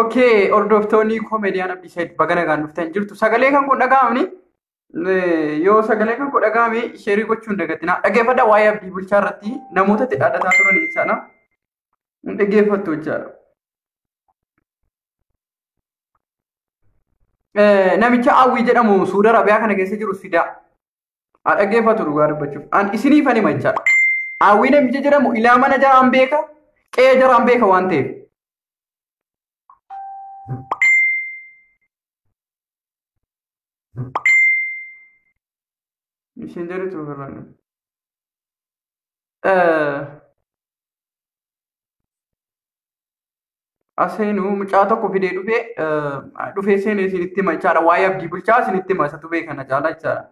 Okay, hordoftoonni koomediyaan Abdiisaid baga nagaan dhuftan jirtu. Sagalee kan kun dhaga'amni yoo sagalee kan kun dhaga'ame sheerii gochuun dagatina. Dhaggeeffadha waa'ee abdii bulchaa irratti namoota itti dhaadhataa turan jechaadha. Hin dhaggeeffattu jechaadha. namicha Awwii jedhamu Suudi Arabiyaa kana keessa jiru fidaa. Haa dhaggeeffatu dhugaa dubbachuuf. An isiniif ani machaa. Awwii namicha jedhamu ilaa mana jaraan beeka, qe'ee jaraan beeka waan ta'eef. Isin jedhutu birraan. Aseenuu mucaa tokko fidee dhufee dhufee seenee isinitti hima jechaadha. Waa'ee abdii bulchaa isinitti hima isatu beeka na caalaa jechaadha.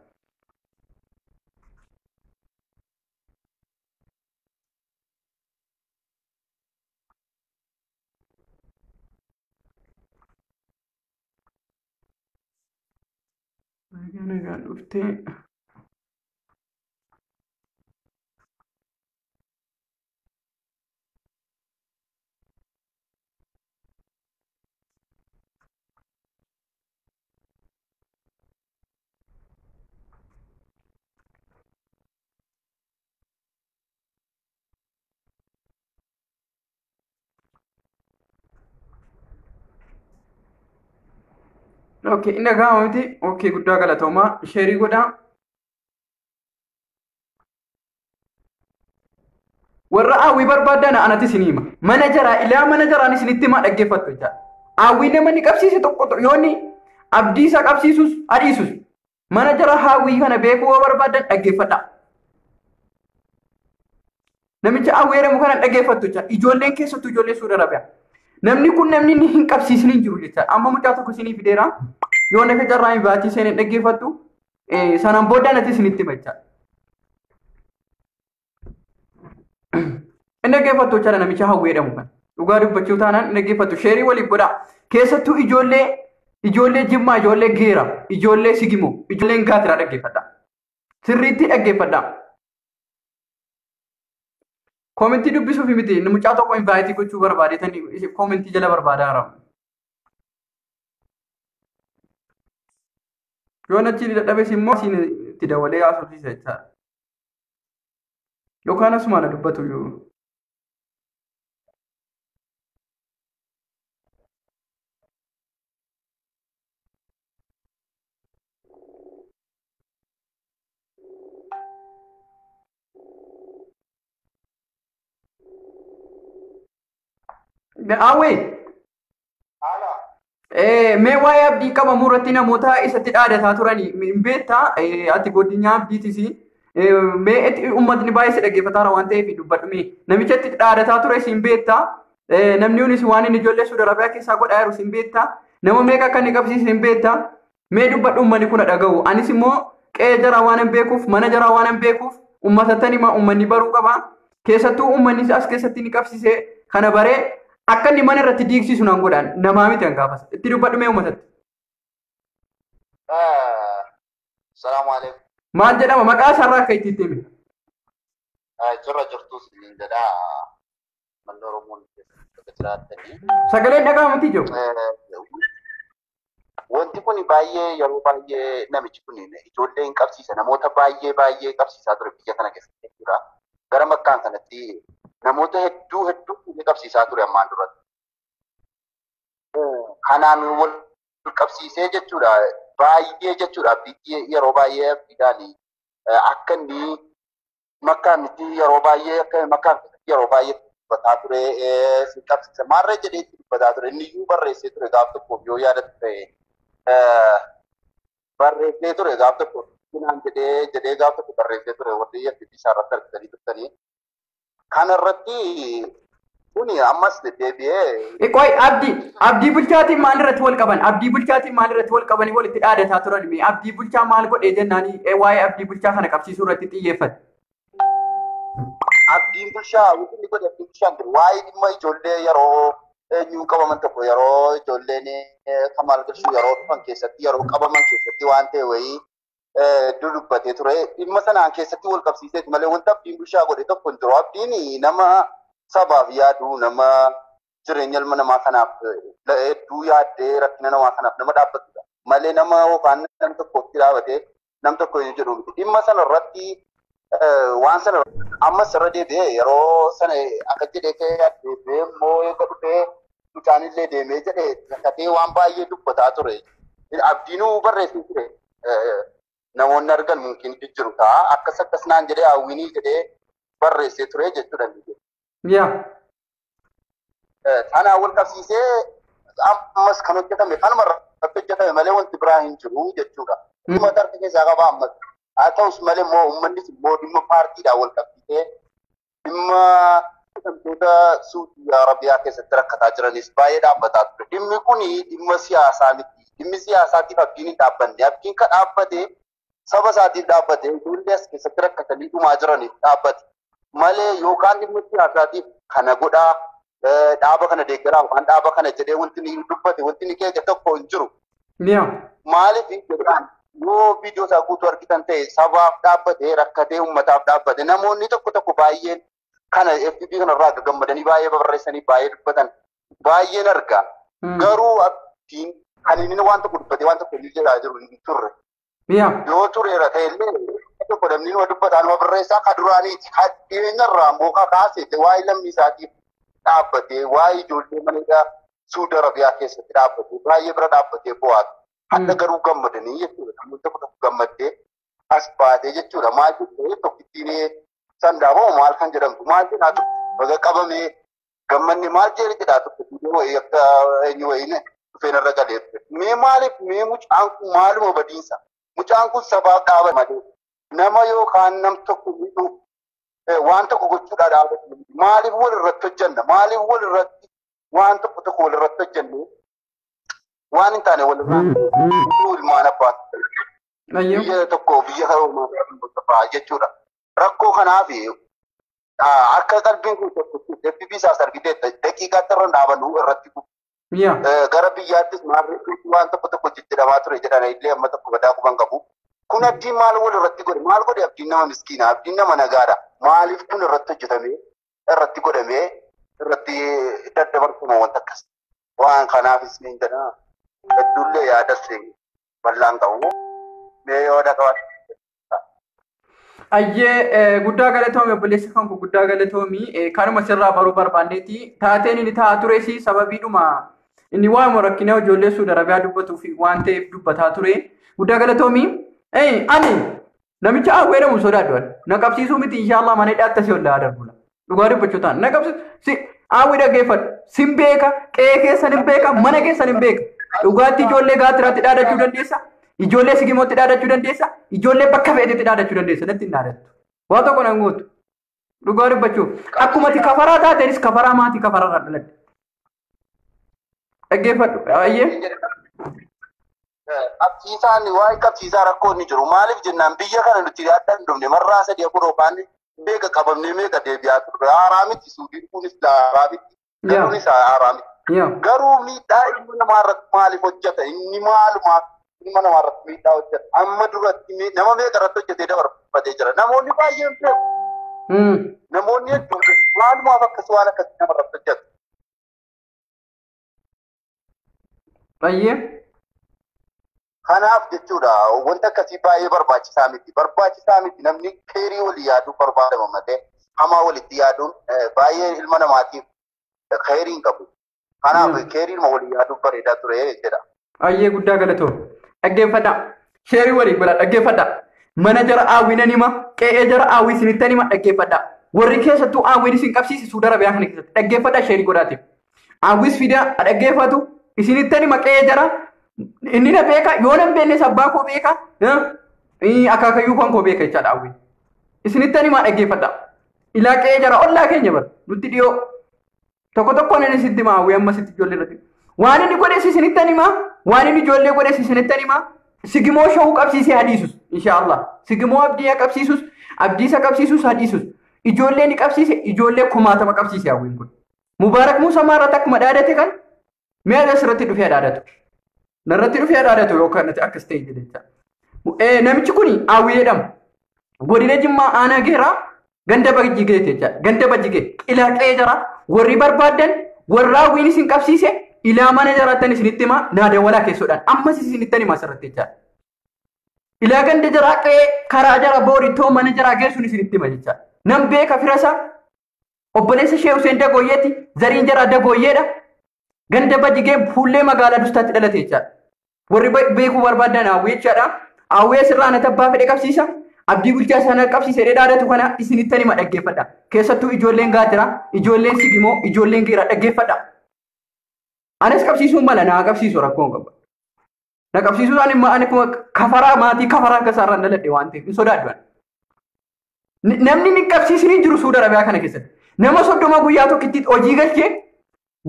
Nagaa nagaan dhuftee. Okay, inni gahaa miti. Okay, guddaa galatoomaa. Sheerii godhaa. warra hawwii barbaaddan anati isin hima mana jaraa ilaa mana jaraan isinitti himaa dhaggeeffattu jecha hawwii nama ni qabsiise tokko yoonni abdii isaa qabsiisus adhiisus mana jara hawwii kana beekuu yoo barbaaddan dhaggeeffadha. Namicha hawwii jedhamu kana dhaggeeffattu jecha ijoolleen keessattuu ijoollee suura rabia. Namni kun namni inni hin qabsiisin hin jiru jecha amma mucaa tokko isinii fideera yoo nafa carraa hin baatii seenee dhaggeeffattu Sanan booddaan ati isinitti himachaa. Inni dhaggeeffattu jechaadha namicha hawwee jedhamu kan. Dhugaa dubbachuu taanaan inni dhaggeeffattu sheerii waliif godhaa. Keessattuu ijoollee ijoollee jimmaa ijoollee geera ijoollee sigimoo ijoolleen gaatiraa dhaggeeffadha. Sirriitti dhaggeeffadha. Koomentii dubbisuuf miti inni mucaa tokko invaayitii gochuu barbaadee tani koomentii jala barbaadaa jira. Yoo nachi dadhabes immoo siin itti dawalee haasofsiisa jechaadha. Yookaan asuma na dubbatu iyyuu. Awwee. Mee waa'ee abdii qabamuu irratti namoota isatti dhaadataa turan hin beektaa ati godinyaa abdiitis mee itti uummatni baay'ee si dhaggeeffataara waan ta'eef dubbadhu mee namicha itti dhaadataa ture siin beektaa namni kunis waan inni ijoollee suudarabaa keessaa godhaa jiru siin beektaa nama meeqa akka inni qabsiisu hin beektaa Mee dubbadhu uummanni kun dhagahu. Anis immoo qe'ee jaraa waan hin beekuuf, mana jaraa waan hin beekuuf, uummatattan hima uummanni baruu qaba. Keessattuu uummanni as keessatti ni qabsise kana baree akka inni mana irratti diigsisu nan godhaan namaa miti an gaafas. Itti dubbadhu mee uummatatti. Salaamu alaikum. Maal jedhama maqaa isaarraa akka itti itti hime. Jirra jirtus niin jedha. Manni Oromoon keessa jiraatanii. Sagaleen dhaga'amutti jiru. Wanti kun baay'ee yeroo baay'ee namichi kun ijoollee hin qabsiisa. Namoota baay'ee baay'ee qabsiisaa ture biyya kana keessatti jechuudha. Gara makkaan kanatti namoota hedduu hedduu fuudhee qabsiisaa ture ammaan duratti. Kanaan wal qabsiisee jechuudha baay'ee jechuudha biyyi yeroo baay'ee abdiidhaan akka inni makkaa miti yeroo baay'ee akka makkaa miti yeroo baay'ee dubbataa ture eh, sin qabsiise maarree jedhee itti dubbataa ture inni iyyuu barreessee ture gaaf tokkoof yoo yaadatu ta'e eh, barreessee ture gaaf tokko naan jedhee jedhee gaaf tokko barreessee ture warri FB isaa irratti argitanii turtanii kana irratti Kuni ammas deddeebi'ee Qoy abdii abdii bulchaatiin maal irratti wal qaban abdii bulchaatiin maal irratti wal qabanii walitti dhaadataa turan mee abdii bulchaa maal godhee jennaanii eh, waa'ee abdii bulchaa kana qabsiisuu irratti xiyyeeffate. abdiin bulchaa wanti inni godhe abdiin bulchaan jiru waa'ee dhimma ijoollee yeroo eenyuun qabaman tokko yeroo ijoolleen eh, kan maal galchuu yeroo dhufan keessatti yeroo qabaman keessatti waan ta'e wayii hedduu dubbatee ture. Dhimma sanaan keessatti wal qabsiiseet malee wanta abdiin bulchaa godhe tokko hin jiru. Abdiin nama sabaaf yaadu, nama jireenya ilma namaa kanaaf hedduu yaaddee rakkina namaa kanaaf nama dhaabbatudha. Malee nama yookaan nam tokkotti dhaabatee nam tokko hin jedhu miti. Dhimma sana irratti waan sana ammas irra deebi'ee yeroo sana akka jedhee ka'ee deebi'ee immoo eega dhufee mucaan illee deemee jedhee kakatee waan baay'ee dubbataa ture. Abdiinuu barreessee ture. Namoonni argan mumkin jijjiru ta'a. Akkas akkas naan jedhee hawwiinii jedhee barreessee ture jechuudha. Yaa. Kanaan wal qabsiisee ammas kan hojjetame kanuma irratti hojjetame malee wanti biraa hin jiru jechuudha. Dhimma tarti keessaa qaba ammas. Haa ta'us malee immoo uummannis immoo dhimma paartiidhaan wal qabsiisee dhimma hidhamtoota Suudii Arabiyaa keessatti rakkataa jiranis baay'ee dhaabbataa ture. Dhimmi kun dhimma siyaasaa miti. Dhimmi siyaasaatiif abdiin hin dhaabbanne. Abdiin kan dhaabbate saba isaatiif dhaabbate ijoollee as keessatti rakkatanii dhumaa jiraniif dhaabbate malee yookaan dhimma siyaasaatiif kana godhaa dhaaba kana deeggaraa yookaan dhaaba kana jedhee wanti ni dubbate wanti ni keeke tokko hin jiru. Miyaa. Maaliif jedhaan yoo viidiyoo isaa guutuu argitan ta'e sabaaf dhaabbate rakkatee uummataaf dhaabbate namoonni tokko tokko baay'een kana FB kana irraa akka gammadanii baay'ee barreessanii baay'ee dubbatan baay'een arga. Garuu abdiin kan inni waan tokko dubbatee waan tokko inni jedhaa jiru hin turre. Yaa. Yoo tureera ta'e illee tokko namni nama dubbataa nama barreessaa ka duraaniiti. Ka dhiyeenya irraa immoo ka kaasee waa'ee lammii isaatiif dhaabbatee waa'ee ijoollee mana hidhaa Suudi Arabiyaa keessatti dhaabbatee baay'ee bira dhaabbatee bo'aa ture. Hadda garuu gammadanii jechuudha. Namoonni tokko tokko gammaddee as baatee jechuudha. Maal jechuudha tokkittiin sandaa moo maal kan jedhamtu maal jedhaa turte baga qabamee gammanni maal jedhe jedhaa turte biyya wayii akka eenyu wayiin dhufeen irra galee turte mee maaliif mee mucaan kun maaluma badiinsa mucaan kun sabaaf dhaaba malee nama yookaan nam tokko miidhuu eh, waan tokko gochuudhaa dhaabatu maaliif wal irratti hojjanna maaliif wal irratti waan tokko tokko wal irratti hojjannee waan hin taane wal irraa ilmaan abbaa Ayyoo. biyya tokko biyya karoomaa qophaa'aa jechuudha. Rakkoo kanaaf akka qalbiin kun tokkotti deebii isaas argiteetta daqiiqaatti irra dhaabanuu irratti Yaa. Eh, gara biyyaattis maarree waan tokko tokko jijjiiramaa ture jedhan illee amma tokko badaa quban qabu. Kun abdiin maal wal irratti godhe? Maal godhe abdiin nama miskiina? Abdiin nama nagaadha. Maaliif kun irratti hojjetamee irratti godhamee irratti daddabarfama wanta akkas. Waan kanaafis niin jedha. Hedduullee yaada seenaa. bal'aan qabu. Mee yoo dhaqaban. Ayyee guddaa galatoomi obboleessa kan guddaa galatoomi kanuma sirraa baruu barbaanneeti taateen inni taa'aa tures sababiidhuma inni waa'uma rakkinaa ijoollee suuda arabiyaa dubbatuu fi waan ta'eef dubbataa ture guddaa galatoomi ani Namicha Aaguu jedhamu sodaadhu ani. Na qabsiisuu miti inshaallah mana hidhaatti asii ol darbula. Dhugaa dubbachuu taana. Na qabsiisu si Aaguu dhaggeeffadhu. Sin beeka, qe'ee keessan hin beeka, mana keessan hin beeka. Dhugaatti ijoollee gaatiraatti dhaadachuu dandeessa. Ijoollee sigimootti dhaadachuu dandeessa. Ijoollee bakka feetetti dhaadachuu dandeessa. Natti hin dhaadattu. Waa tokko nan gootu. Dhugaa dubbachuuf. Akkuma ati kafaraa taatenis kafaraa maatii kafaraa irraa dhaladde. Dhaggeeffadhu. Ayyee. qabsiisaan waa'ee qabsiisaa rakkoo inni jiru maaliif jennaan biyya kana nuti adda hin dhumne marraa sadii afur yookaan meeqa qabamnee meeqa deebi'aa turre haaraa miti suudiin kunis haaraa miti galuunis haaraa miti garuu miidhaa ilma namaa irratti maaliif hojjeta inni maalumaaf ilma namaa irratti miidhaa hojjeta amma duratti nama meeqa irratti hojjetee dabarfatee jira namoonni baay'een beeku namoonni hedduun maalumaaf akkas waan akkasii nama irratti hojjeta Bayyee. Kanaaf jechuudha wanti akkasii baay'ee barbaachisaa miti. Barbaachisaa miti namni keerii walii yaaduu barbaadama malee hamaa walitti yaaduun eh, baay'ee ilma namaatiif keerii hin qabu. Kanaaf Mm. keeriidhuma walii yaaduun bareedaa ture jedha. Baay'ee guddaa galatoo. Dhaggeeffadha. Sheerii walii godha dhaggeeffadha. Mana jara hawwinan hima. Qe'ee jara hawwi isinittan hima dhaggeeffadha. Warri keessattuu hawwiin isin qabsiise suuda rabiyaa kana keessatti dhaggeeffadha sheerii godhaatiif. Hawwis fidaa ha dhaggeeffatu isinittani maqee jara inni na beeka yoo nan beeknes abbaa koo beeka akaakayyuu kan koo beeka jechaadha hawwi. Isinittani maa dhaggeeffadha. Ilaa qe'ee jara ollaa keenya bara nutti dhiyoo tokko tokkoon inni sitti maa hawwi amma sitti ijoollee irratti. Waan inni godhes isinittani maa waan inni ijoollee godhes isinittani maa sigimoo shawuu qabsiisee hadiisus inshaallah sigimoo abdii qabsiisus abdiisa qabsiisus hadiisus ijoollee ni qabsiise ijoollee kumaatama qabsiise hawwiin kun. Mubaarak Muusaa maa irratti akkuma dhaadate kan mi'a irratti irratti dhufee dhaadatu. Narratti dhufee dhaadatu yookaan natti akkas ta'e jedhecha. Namichi kun Awwii jedhama. Godina Jimmaa aanaa geeraa ganda bajjigee jecha ganda bajjigee ilaa qe'ee jara warri barbaadan warra Awwiin isin qabsiise ilaa mana jaraattan isinitti himaa naa dawalaa keessoodhaan ammas isinittan himaa asirratti jecha. Ilaa ganda jaraa qe'ee karaa jara boorittoo mana jaraa geessuun isinitti hima jecha. Nan beeka firasaa Obboleessa ishee Huseen Dagooyyeetti zariin jaraa Dagooyyeedha. Ganda Bajigee fuullee magaalaa Dustaatti dhalate jechaadha. Warri beekuu barbaadan Hawwii jechaadha. Hawwii asirraa na tabbaa fedhe qabsiisa. Abdii bulchaa sana qabsiisa jedhee dhaadatu kana isinittan hima dhaggeeffadha. Keessattuu ijoolleen gaatira, ijoolleen sigimoo, ijoolleen geera dhaggeeffadha. Anas qabsiisuun mala naa qabsiisu rakkoon qaba. Na qabsiisuu isaanii immoo ani kuma kafaraa maatii kafaraa akka isaarraan dhaladhe waan ta'eef hin sodaadhu ani. N- Namni inni hin qabsiisiniin jiru Suudi Arabiyaa kana keessatti. Nama soddoma guyyaa tokkittiitti hojii galchee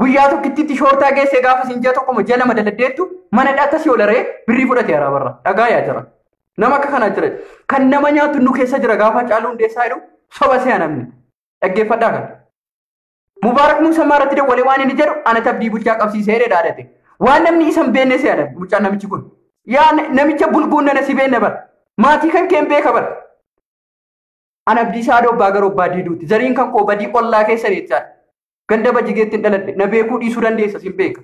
guyyaa tokkittiitti shoortaa geessee gaafa siin ji'a tokkoma ji'a lama daladdeettu mana dhaata si olaree birrii fudhate araabarra. Dhagaa yaa jira. Nama akka kanaa jira. Kan nama nyaatu nu keessa jira gaafa caaluu hundeessaa jedhu soba se'a namni. Dhaggeeffadhaa kana. Mubaarak Muusammaa irratti dawwalee waan inni jedhu anatti abdii bulchaa qabsiisee jedhe dhaadate. Waan namni isa hin beekne si yaadata mucaan namichi kun. Yaa namicha bulguun nana si beekna bara. Maatii kan keen beeka bara. An abdii saadoo abbaa garoo abbaa diiduuti. Zariin kan koo badii ollaa keessa jechaadha. Ganda bajigeetti hin dhaladhe. Na beekuu dhiisuu dandeessa sin beeka.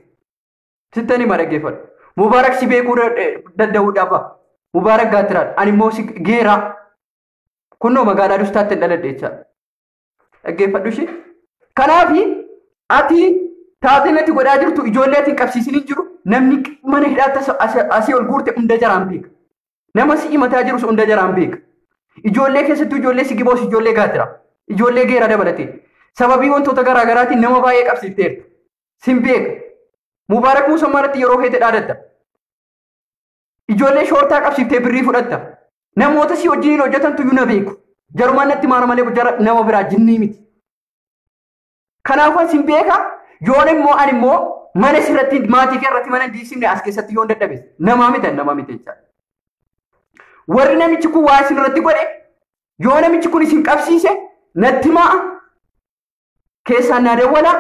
Sittan hima dhaggeeffadhu. Mubaarak si beekuu danda'uu dhafa. Mubaarak gaatiraadha. Ani immoo si geeraa. Kunnoo magaalaa dustaatti hin dhaladhe jechaadha. Dhaggeeffadhu ishee. Kanaaf ati taatee natti godhaa jirtu ijoollee ati hin qabsiisin hin jiru namni mana hidhaatti as- as- asii ol guurte hunda jaraan beeka. Nama si himataa jirus hunda jaraan beeka. Ijoollee keessattuu ijoollee si giboos ijoollee gaatira. Ijoollee geera dabalatee. Sababii wantoota garaa garaatiin nama baay'ee qabsiifteerta. Sin beeka. Mubaarak Muusammaa irratti yeroo feete dhaadatta. Ijoollee shoortaa qabsiiftee birrii fudhatta. Namoota si wajjiniin hojjetantu iyyuu na beeku. Jarumaan natti maara malee jara nama biraa jinnii miti. Kanaafuu asin beeka yoon immoo ani immoo mana sirratti maatii kee irratti mana diisimne as keessatti yoon dadhabe namaa miti ani namaa miti jechaadha. Warri namichi kun waa isin irratti godhe yoo namichi kun isin qabsiise natti ma'a keessaan naa dawwalaa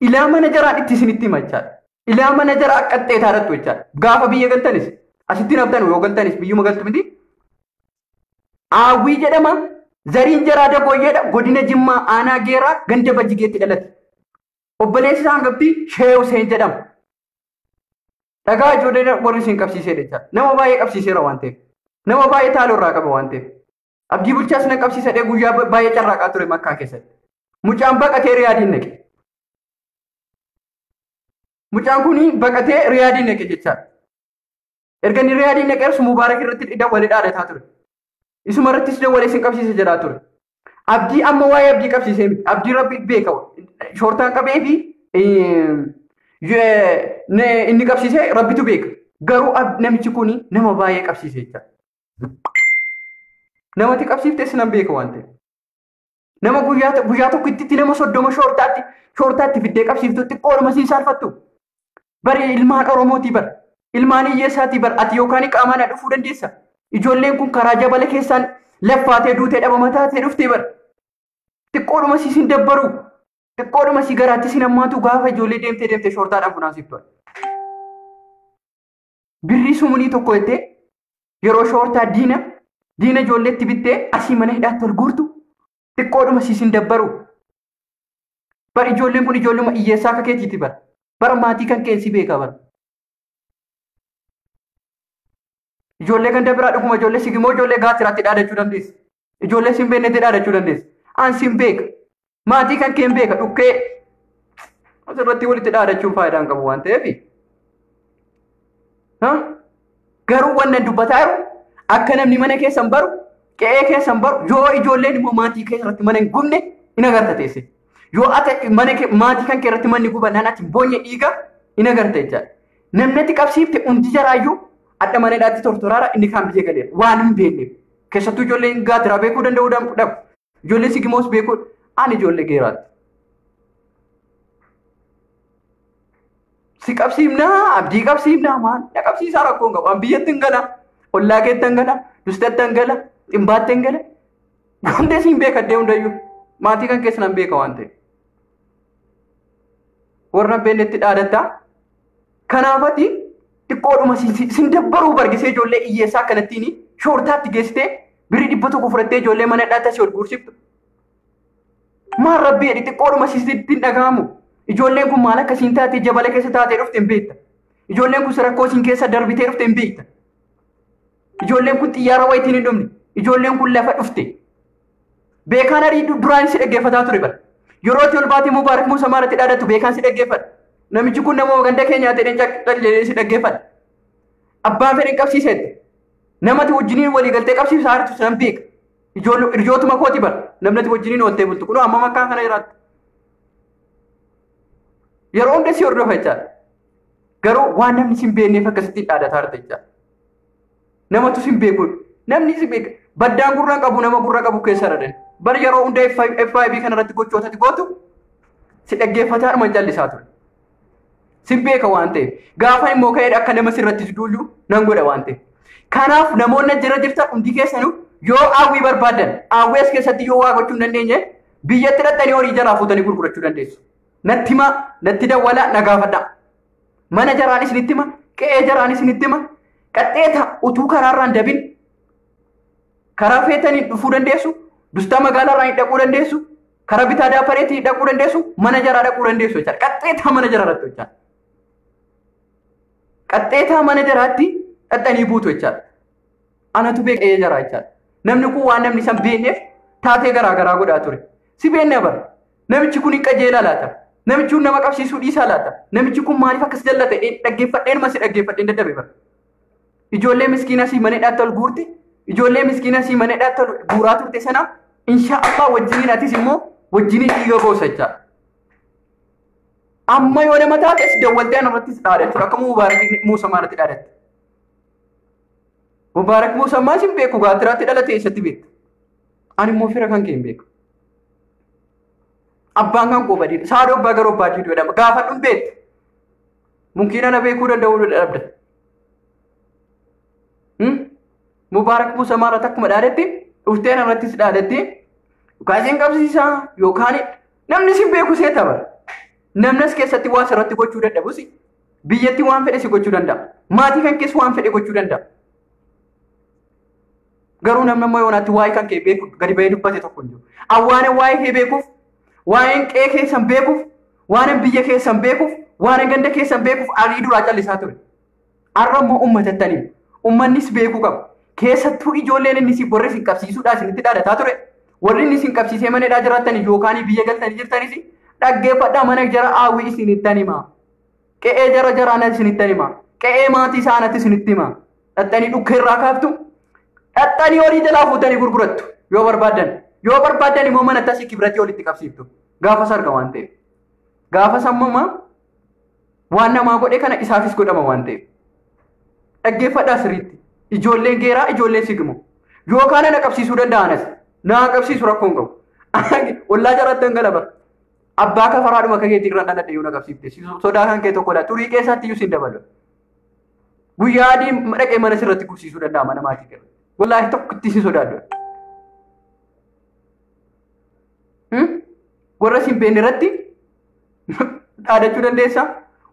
ilaa mana jaraa itti isinitti hima jechaadha. Ilaa mana jaraa akka xeetaa irratti jechaadha. Gaafa biyya galtanis asitti naftan yoo galtanis biyyuma galtu miti. Aawwii jedhama zariin jaraa dabooyyeedha godina Jimmaa aanaa geeraa ganda bajjigeetti dhalate. Obboleessi isaa hangafti Shee Huseen jedhama. Dhagaa ijoollee warri isin qabsiiseedha jechaadha. Nama baay'ee qabsiiseera waan ta'eef. Nama baay'ee taaloo irraa qaba waan ta'eef. Abdii bulchaas nan qabsiisadhee guyyaa baay'ee carraaqaa ture makkaa keessatti. Mucaan baqatee riyaadiin naqe. Mucaan kun baqatee riyaadiin naqe jechaadha. Erga inni riyaadiin naqeerus mubaarak irratti dhidha wali dhaadataa ture. Isuma irrattis dawwalee sin qabsiisa jedhaa ture. Abdii amma waa'ee abdii qabsiisee miti. Abdii rabbi beeka. Shoortaan qabee fi inni qabsiisee rabbitu beeka. Garuu namichi kun nama baay'ee qabsiisee jechaadha. Namatti qabsiiftee sinan beeka waan ta'eef. Nama guyyaa guyyaa tokko itti nama soddoma shoortaatti shoortaatti fiddee qabsiiftu xiqqoo nama siin saalfattu. Bari ilmaan Oromootii bar. Ilmaan hiyyeessaatii bar. Ati yookaan qaamaan na dhufuu dandeessa. Ijoolleen kun karaa jabala keessaan laffaatee duutee dhabama taatee dhuftee bar. Xiqqoodhuma si sin dabbaru. Xiqqoodhuma si garaatti sin hammaatu gaafa ijoollee deemtee deemtee shoortaadhaan funaansiiftu. birrii sumunii tokko jettee yeroo shoortaa diina diina ijoolleetti bittee asii mana hidhaatti ol guurtu xiqqoodhuma siisin dabbaru. Bar ijoolleen kun ijoolluma hiyyeessaa akka keetiiti bara. Bara maatii kan keensi beeka bara. Ijoollee ganda biraa dhuguma ijoollee sigimoo ijoollee gaasiraatti dhaadachuu dandeessi. Ijoollee sin beekne jedhaa jechuu dandeessa. An sin beeka. Maatii kan keen beeka dhukkee. Asirratti walitti dhaadachuun faayidaa hin qabu waan ta'eef. Garuu wanna dubbataa jiru akka namni mana keessan baru qe'ee keessan baru yoo ijoolleen immoo maatii keessatti mana hin gubne hin agarta teesse. Yoo ati mana maatii kan keessatti manni gubannaan ati boonye dhiiga hin agarta jechaadha. Namni ati qabsiifte hundi jaraayyuu adda mana hidhaatti tortoraara inni kaan biyya galeera waan hin beekneef. Keessattuu ijoolleen gaatiraa beekuu danda'uu dhabu. Ijoolleen sigimoos beekuu ani ijoollee geeraatti. Si qabsiifnaa abdii qabsiifnaa maal na qabsiisaa rakkoo hin qabu. An biyyatti hin gala. Ollaa keetti hin gala. Dustatti hin gala. Dhimbaatti hin gala. Hundee siin beeka addee hundayyuu. Maatii kan keessa nan beeka waan ta'eef. Warra hin beeknetti dhaadatta. Kanaafati xiqqoodhuma si- si- sin dabbaruu bargisee ijoollee hiyyeessaa akkanattiin shoortaatti geessitee birrii dhibba tokko fudhattee ijoollee mana hidhaatti asii ol guursiftu. Maal rabbii jedhi xiqqoodhuma sitti hin dhaga'amu. Ijoolleen kun maal akkasiin taatee jabala keessa taatee dhufte hin beekta. Ijoolleen kun rakkoo isin keessa darbitee dhufte hin beekta. Ijoolleen kun xiyyaara wayitiin hin dhumne. Ijoolleen kun lafa dhufte. Beekaan arii duraan si dhaggeeffataa ture bara. Yeroo itti ol baatee Mubaarak Muusa Maaratti dhaadatu beekaan si dhaggeeffata. Namichi kun nama ganda keenyaa ta'een callee si dhaggeeffata. Abbaan fedhan qabsiiseetti. Namati wajjiniin walii galtee qabsiisa hartu san beeka. Ijootuma kooti bara. Namnati wajjiniin ooltee bultu. Kunoo amma makkaan kana jiraatti. Yeroo hunda si hordofa jechaadha. Garuu waan namni sin beekneef akkasitti dhaadataa jirta jechaadha. Namatu sin beeku. Namni si beeka. Baddaan gurra qabu nama gurra qabu keessa dhadan. Bar yeroo hunda FIB kana irratti gochoota gootu si dhaggeeffataa dhuma callisaa ture. Sin beeka waan ta'eef. Gaafa immoo ka'ee akka nama sirratti duullu nan godha waan ta'eef. Kanaaf namoonni jira jirtan hundi keessanuu yoo hawwii barbaadan hawwii as keessatti yoo waa gochuu hin dandeenye biyyatti dhaqxanii horii jalaa fuutanii gurgurachuu dandeessu. Natti himaa, natti dawwalaa, na gaafadhaa. Mana jaraan isinitti hima, qe'ee jaraan isinitti hima. Qaxxeeta utuu karaarraan dabin karaa feetaniin dhufuu dandeessu, dustaa magaalaarraan hin dhaquu dandeessu, karaa bitaa daapareetiin hin dhaquu dandeessu, mana jaraa dhaquu dandeessu jechaadha. Qaxxeetaa mana jaraa irratti jechaadha. Qaxxeetaa mana jaraatti dhaqxanii buutu jechaadha. Anatu beeka qe'ee jaraa jechaadha. Namni kun waan namni san beekneef taatee garaa garaa godhaa ture. Si beekna bara. Namichi kun hin qajeelaa laata? Namichi kun nama qabsiisuu dhiisaa laata? Namichi kun maaliif akkas jallata? Dhaggeeffadheen masi dhaggeeffadheen dadhabe bara. Ijoollee miskiinaa sii mana hidhaatti ol guurte, ijoollee miskiinaa sii mana hidhaatti ol guuraa turte sana insha Allah wajjiniin atis immoo wajjiniin dhiiga boosa jechaa. Amma yoo nama taates dawwaltee anarrattis dhaadachuudha. Akkuma Mubaarak Muusa maalatti dhaadatte? Mubaarak Muusa maas hin beeku gaatiraatti dhalatee eessatti beekta? Ani immoo fira kan kee hin beeku. Abbaan kan koo badii saadoo abbaa garoo abbaa jiiduu jedhama. Gaafa dhun beektu. Munkiina na beekuu danda'uu dhabda. Mubaarak Muusaa maarraa takkuma dhaaletti dhufteen irrattis dhaaletti yookaan isin qabsiisaa yookaan namni isin beeku seeta bara. Namnis keessatti waa sirratti gochuu dadhabus biyyatti waan fedhe si gochuu danda'a. Maatii kan keessa waan fedhe gochuu danda'a. Garuu namni amma yoonaatti waa'ee kan kee beeku gadi ba'ee dubbate tokko hin jiru. Awwaanan waa'ee kee beekuuf, waa'een qe'ee keessan beekuuf, waanan biyya keessan beekuuf, waanan ganda keessan beekuuf arii duraa callisaa ture. Har'a immoo uummatattan hima. Uummannis beekuu qaba. Keessattuu ijoolleen inni isin warri isin qabsiisuudhaa isinitti dhaadataa ture. Warri inni isin qabsiisee mana hidhaa jiraattan yookaan biyya galtanii jirtanis dhaggeeffadhaa mana jara haawwii isinittan hima. Qe'ee jara jaraa na isinitti hima. Qe'ee maatii isaa anatti isinitti hima. Dhaxxanii dhukkee irraa kaaftu. Dhaxxanii horii jalaa fuutanii gurgurattu. Yoo barbaaddan. Yoo barbaaddan immoo mana tasii kibiratii olitti qabsiiftu. Gaafa sarga waan ta'eef. Gaafa sammama waan namaa godhe kana isaafis godhama waan ta'eef. Dhaggeeffadhaa sirriitti. Ijoolleen geeraa ijoolleen sigimo. Yoo kaana na qabsiisuu danda'anas. Na qabsiisu rakkoon qabu. Ollaa jaraatti dhangalaba. Abbaa kafaraadhuma akka keetii irraan dhaladhe yoo naqabsiifte sodaa kan kee tokkodha. Xurii keessaatti iyyuu siin dabalu. Guyyaa adii dhaqee mana sirratti gubsiisuu danda'a mana maatii kee. Wallaahi tokko itti si sodaadhu. Warra siin beekne irratti dhaadachuu dandeessa.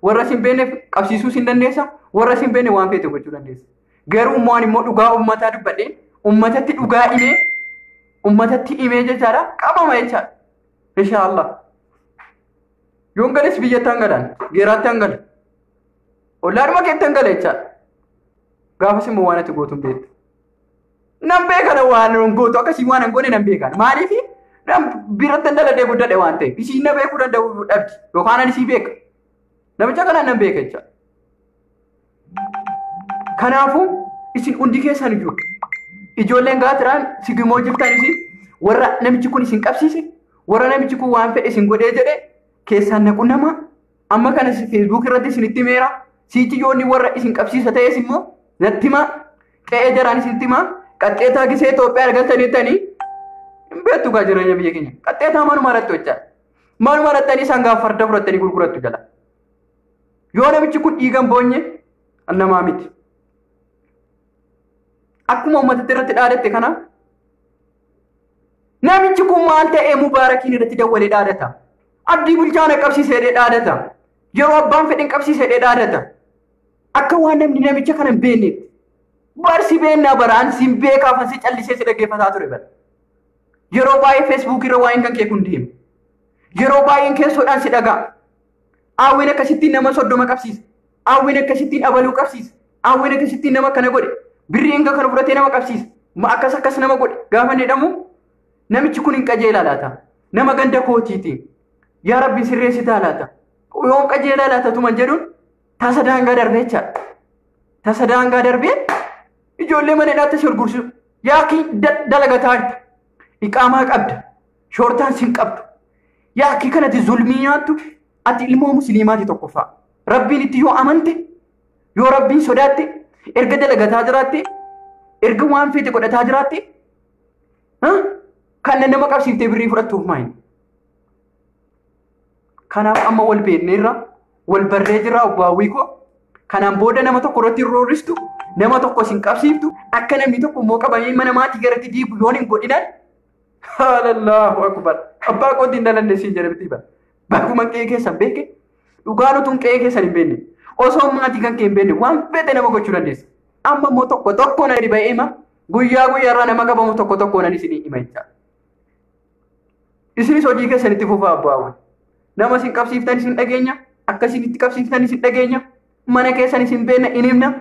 Warra siin beekne qabsiisuu siin dandeessa. Warra siin beekne waan feete gochuu dandeessa. Garuu immoo ani immoo dhugaa uummataa dubbadhee uummatatti dhugaa himee uummatatti himee jechaadha qabama jechaadha. Inshaallah. Yoon gales biyyatti hangalaan geeraatti hangala. Ollaadhuma keetti hangala jechaadha. Gaafas immoo waan ati gootu hin beektu. Nan beekana waan hin gootu akkasii waan hin goone nan beekana. Maaliif nan biratti hin daladee guddadhe waan ta'eef isiin na beekuu danda'u dhabdi yookaan ani isii beeka. Namicha kanaan nan beeka jechaadha. Kanaafuu isin hundi keessan iyyuu ijoolleen gaatiraan sigimoo jirtan isin warra namichi kun isin qabsiise warra namichi kun waan fedhe isin godhee jedhe keessaan naqu nama amma kana feesbuuk irratti isinitti meera siichi yoonni warra isin qabsiisa ta'es immoo natti himaa qe'ee jaraan isinitti himaa qaxxeetaa gisee Itoophiyaa argataniitanii hin beektu gaa jireenya biyya keenya qaxxeetaa manuma irratti hojjaa manuma irratti isaan gaafa farda fudhattanii gurgurattu jala. Yoo namichi kun dhiigan boonye namaa miti. Akkuma uummatatti irratti dhaadatte kana namichi kun maal ta'ee mubaarakiin irratti dawwalee dhaadata. Abdii bulchaa na qabsiisee dhee dhaadata. Yeroo abbaan fedhin qabsiisee dhee dhaadata. Akka waan namni namicha kana hin beekneetti. Barsi beennaa baraan siin beekaa fansi callisee si dhaggeeffataa ture bara. Yeroo baay'ee feesbuukii irra waa'een kan kee kun deema. Yeroo baay'een keessoodhaan si dhaga'a. Aawween akkasittiin nama soddoma qabsiisa. Aawween akkasittiin abaluu qabsiisa. Aawween akkasittiin nama akkana godhe. Birrii hanga kana fudhatee nama qabsiisa. Ma akkas akkas nama godhe. Gaafa inni jedhamu namichi kun hin qajeelaa laata. Nama ganda kootiiti. Yaa rabbi sirreessitaa laata. Yoon qajeelaa laata tuman jedhuun tasa daangaa darbee jechaadha. Tasa daangaa darbee ijoollee mana hidhaatti si gurgursiisu. Yaa kii dalagataa jirta. Iqaamaa qabda. Shoortaan sin qabdu. Yaa akki kanati zulmii nyaattu ati ilmoo musliimaati tokkoffaa. Rabbiin itti yoo amante yoo rabbiin sodaatte erga dalagataa jiraatte erga waan feete godhataa jiraatte ha? kan nama qabsiiftee birrii fudhattuuf maayin. Kanaaf amma wal beekneerra wal barree jirra obbo Hawwii koo. Kanaan booda nama tokko irratti hin roorristu nama tokko sin qabsiiftu akka namni tokko immoo qabamee mana maatii garatti diigu yoon hin godhinan Haalallahu akbar. Abbaa kootii hin dhalanne siin jedhe bitii bara. Baguman qe'ee keessan beeke dhugaan utuun qe'ee keessan hin beekne osoo maatii kan kee hin beekne waan fedhe nama gochuu dandeessa. Amma immoo tokko tokko na dhiba'ee hima guyyaa guyyaa irraa nama qabamu tokko tokko nan isinii hima jecha. Isinis hojii keessan itti fufaa abbaawwan. Nama isin qabsiiftan isin dhageenya akkasiin itti qabsiiftan isin dhageenya mana keessan isin beekna hin himna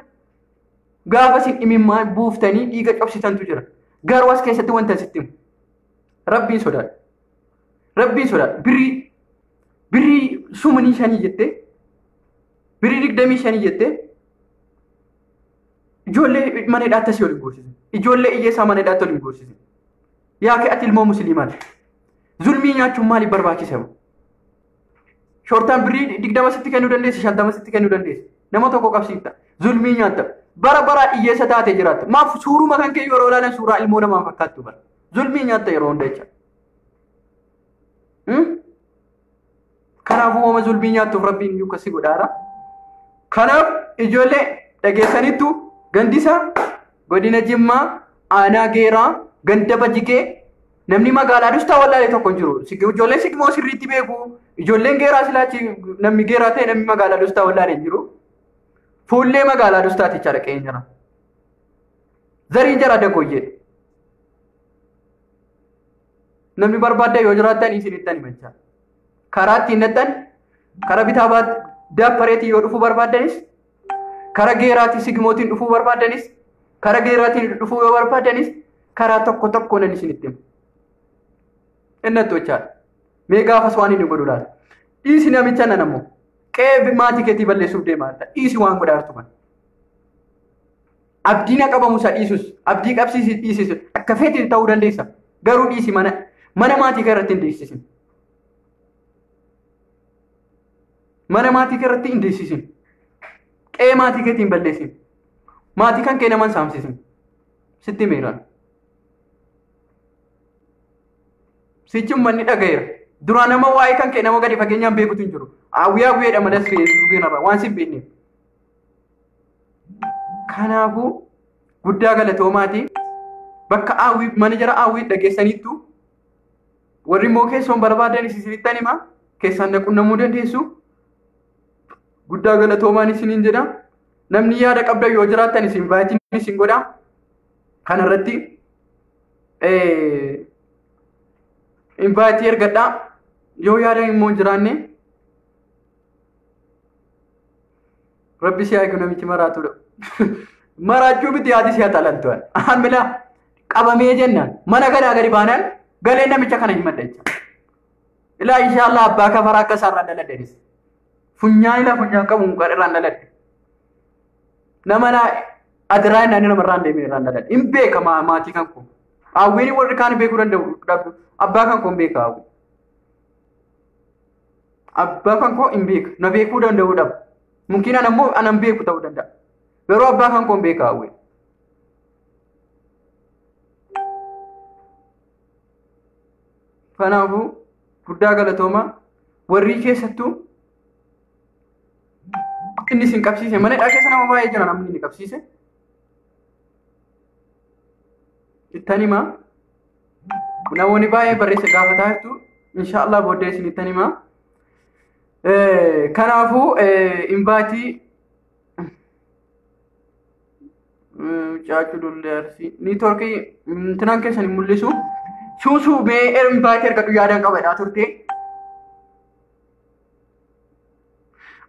Gaafa isin imimmaan buuftanii dhiiga cobsitantu jira. Garuu as keessatti wanta sitti himu. Rabbiin sodaadha. Rabbiin sodaadha. Birrii birrii sumanii shanii jettee birrii digdamii shanii jettee ijoollee mana hidhaatti asii waliin gorsise. Ijoollee iyyeessaa mana hidhaatti waliin gorsise. Yaa kee ati ilmoo musliimaati. Zulmii nyaachuun maaliif barbaachise? Shortaan birrii digdama sitti kennuu dandeessi, shantama sitti kennuu dandeessi. Nama tokko qabsiifta. Zulmii nyaatta. Bara baraa dhiyyeessa taate jiraatta. Maaf suuruma kan kee yeroo ilaalan suuraa ilmoo namaa fakkaattu bara. Zulmii nyaatta yeroo hunda jecha. Kanaafuu hooma zulmii nyaattuuf rabbiin iyyuu akkasii godhaara. Kanaaf ijoollee dhageessaniittu gandisa godina Jimmaa aanaa Geeraa ganda Bajigee Namni magaalaa dustaa wallaalee tokko hin jiru. Si- Ijoolleen sigmoo sirriitti beeku. Ijoolleen geeraa silaachi namni geeraa ta'e namni magaalaa dustaa wallaalee hin jiru. Fuullee magaalaa dustaati jechaadha qe'een jira. Zariin jara dagoyyee. Namni barbaaddan yoo jiraattan isinittan himachaa. Karaa ittiin nattan karaa bitaa baat daappareetiin yoo dhufuu barbaaddanis Kara geeraatii sigimootiin dhufuu barbaaddanis kara geeraatiin dhufuu yoo barbaaddanis karaa tokko tokko nan isinitti himu. Innattu jechaadha. Mee gaafas waan inni godhu laata? Dhiisi namicha nan ammoo qe'ee maatii keetii balleessuuf deemaa jirta. Dhiisi waan godhaa jirtu kana. Abdii na qabamu isa dhiisus abdii qabsiisi dhiisis akka feetiin ta'uu dandeessa. Garuu dhiisi mana mana maatii kee irratti hin dhiisisin. Mana maatii kee irratti hin deessisin. Qe'ee maatii keetii hin balleessin. Maatii kan kee nama hin saamsisin. Sitti himeeraan. Sichi uummanni dhagayeera. Duraa nama waa'ee kan kee nama gadi fageenyaan beekutu hin jiru. Hawwiyaa hawwiyeedha malee as re'ee suuqii irraa waan si hin beekneef. Kanaafuu guddaa galatoomaati. Bakka hawwii mana jara hawwii dhageessaniittu Warri immoo keessoon barbaadan isinitti hima keessaan na qunnamuu dandeessu. Guddaa galatoomaan isiniin jedha. Namni yaada qabdan yoo jiraattan isin invaayitiin isin godha. Kana irratti invaayitii ergadhaa. Yoo yaada immoo hin jiraanne Rabbi si eegu namichi maraatudha. Maraachuu miti haati si haxalantu. Amila qabamee jennaan mana kanaa gadi baanaan galee namicha kana himadha jecha. Ilaa inshaallah abbaa kafaraa akka isaarraan dhaladhenis. Funyaan ilaa funyaan qabu mukaan irraan dhaladhe. Nama laa adiraa inni nama irraan deemee irraan dhaladhe. Hin beeka maatii kan koo. Hawwiin warri kaan beekuu danda'u dhabdu. Abbaa kan koo hin beeka hawwi. Abbaa kan koo hin beeka. Na beekuu danda'uu dhabu. Mumkiin ana immoo ana hin beeku ta'uu danda'a. Garuu abbaa kan koo hin beeka hawwe. Kanaafuu guddaa galatoomaa warri keessattuu inni isin qabsiise mana hidhaa keessa nama baay'ee jira namni inni qabsiise. Ittan himaa. Namoonni baay'ee barreessa gaafataa jirtu. Inshaallah booddee isinittan hima. Kanaafuu invaatii caacuu dullee arsii niitoorkii intinaan keessan hin mul'isu. Suusuu mee invaatii argadhu yaadaan qabadhaa turte.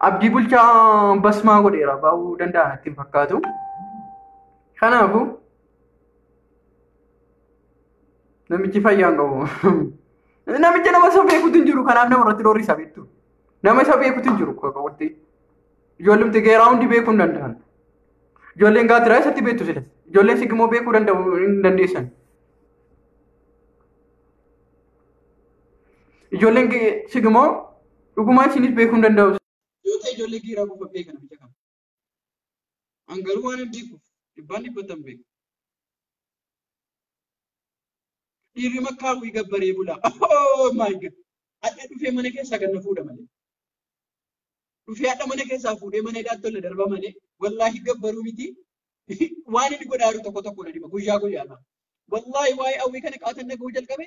Abdii bulchaa basmaa godheera baa'uu danda'a natti hin fakkaatu. Kanaafuu. Namichi fayyaan qabu. Namicha nama isa beekutu hin jiru kanaaf nama irratti dhoorisa beektu. Nama isa beekutu hin jiru qoqqooddi. Ijoollimti geeraa hundi beekuu hin danda'an. Ijoolleen gaatiraa isatti beektu silas. Ijoolleen sigimoo beekuu danda'u hin dandeessan. Ijoolleen sigimoo dhugumaa isinis beekuu hin danda'u. Yoo ta'e ijoollee geeraa qofa beekan biyya kana. An garuu waan abdii kuuf dhibbaan dhibbatan beeku. Dhiirri makkaa hawwii gabbaree bulaa. Oh my God! Hadha dhufee mana keessaa kan na fuudha malee. Dhufee hadha mana keessaa fuudhee mana hidhaatti tolle darba malee wallaahi gabbaruu miti. Waan inni godhaa jiru tokko tokko na dhiba guyyaa guyyaadhaan. Wallaahi waa'ee hawwii kana qaatan dhaga'uu jalqabe.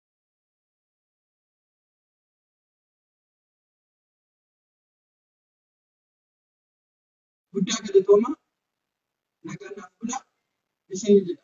Guddaa galatooma nagaan naaf bulaa isin jedha.